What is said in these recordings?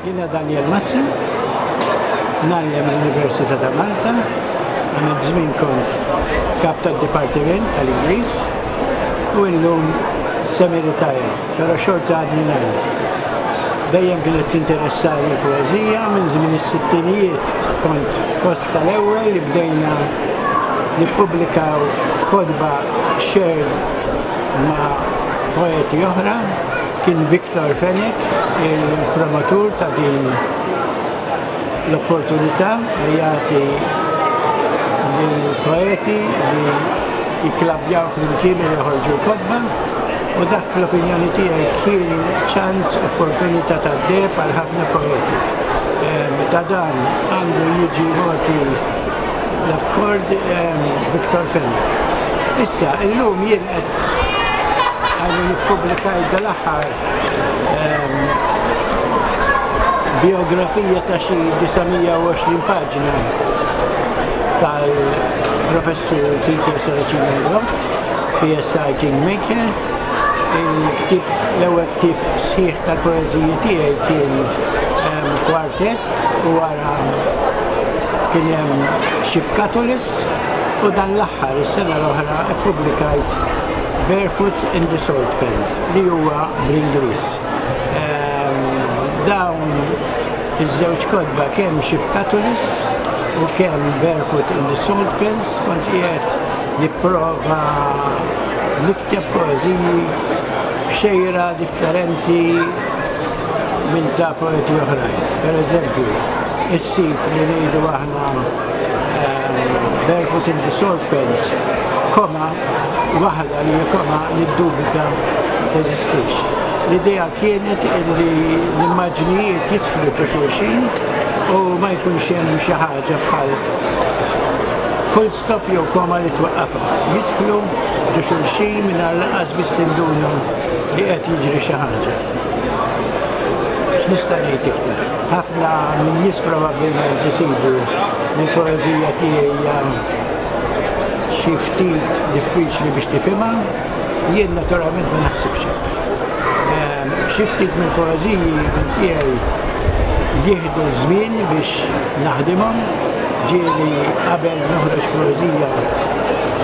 Jina Daniel Massim, nallem l-Università ta' Malta, għamil żmien kont kap tad dipartiment tal-Ingliż u illum semiritajr, però xorta għadni nallem. Dejjem kienet tinteressani l-poezija minn żmien is-sittinijiet kont fost Tal-ewwel li bdejna nippubblikaw kotba shared ma' poeti oħra kien Victor Fenech il-promotur ta' din l-opportunità li jagħti lill-poeti li jikklabbjaw flimkien u joħorġu l-kotba u dak fl-opinjoni tiegħi kien ċans, opportunità tad-deheb għal ħafna poeti. Ta' dan Għandu jiġi mogħti l-akkord ehm, Victor Fenna. Issa, illum jien qed għandu nippubblikajt dal-aħħar ehm, biografija ta' xi 920 paġna tal-professur Peter Saracino PSI Kingmaker il-ktib, l-ewwel ktib sħiħ tal-poeżiji tiegħi kien ehm, Tet u wara kien hemm Ship Catalyst u dan l-aħħar is-sena l-oħra ppubblikajt Barefoot in the Salt Pans li huwa bl-Ingliż. Dawn iż-żewġ kotba kemm Ship Catalyst u kemm Barefoot in the Salt Pans kont qiegħed nipprova nikteb poeżiji b'xejra differenti minn ta' poeti oħrajn. Per eżempju, is-sit li ngħidu aħna Barefoot in the Salt Pens, koma waħda li koma li dubita teżistix. L-idea kienet li l-immaġnijiet jitħlu ta' xulxin u ma jkunx hemm xi ħaġa bħal stop jew koma li twaqqafha, jidħlu ġo xulxin mingħajr lanqas biss tinduna li qed jiġri xi ħaġa. X'nista' ngħid iktar? Ħafna min-nies probabbilment isibu li l-poeżija tiegħi hija xi ftit diffiċli biex tifhimha, Jien naturalment ma naħsibx hekk. Xi ftit mill-poeżiji minn tiegħi jieħdu żmien biex naħdimhom, ġieli qabel noħroġ poeżija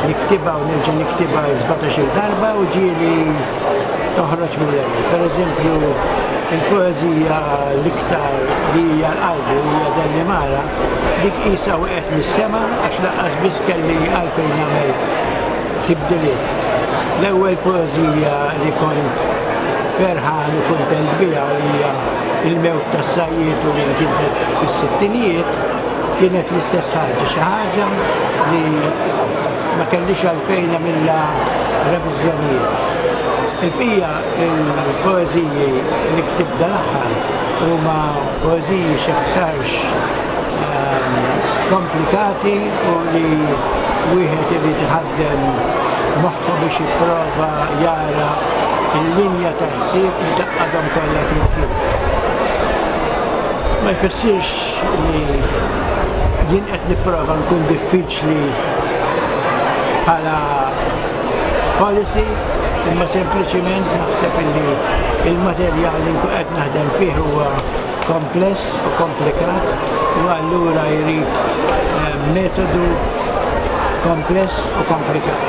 niktibha u nerġa' niktibha sbatax-il darba u ġieli toħroġ mill-ewwel. Pereżempju, il-poeżija l-iktar li hija l-qalbi li hija Dellimara, dik qisha waqgħet mis-sema għax lanqas biss kelli għalfejn nagħmel tibdiliet. L-ewwel poeżija li kont ferħan u kuntent biha hija Il-mewt tas-sajjied u li nkitbet fis-sittinijiet kienet l-istess ħaġa, xi ħaġa li ma kellix għalfejn għamilha reviżjonijiet. Il-bqija il-poeżiji li ktibt dal-aħħar huma poeżiji x'aktar komplikati u li wieħed irid iħaddem moħħu biex jipprova jara l-linja ta' ħsieb li taqqadhom kollha flimkien. Ma jfissirx li jien qed nipprova nkun diffiċli bħala policy imma sempliċiment naħseb li il-materjal li nkun qed naħdem fih huwa kompless u komplikat u allura jrid metodu kompless u komplikat.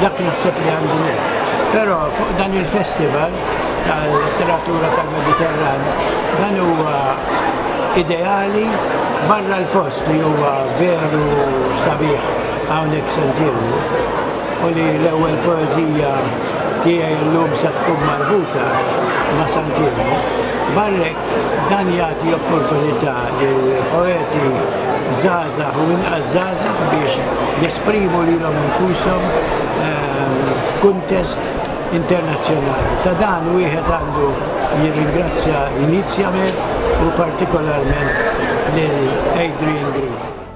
Dak naħseb li għandu ngħid. Però fuq dan il-festival tal-letteratura tal-Mediterran dan huwa ideali barra l-post li huwa veru sabiħ hawnhekk Sant'Ilmu u li l-ewwel poeżija tiegħi llum se tkun marbuta ma' Sant'Ilmu. Barra hekk, dan jagħti opportunità lil poeti żgħażagħ u inqas żgħażagħ biex jesprimu lilhom infushom f'kuntest internazzjonali. Ta' dan wieħed għandu jirringrazzja Inizjament u partikolarment lil Adrian Green.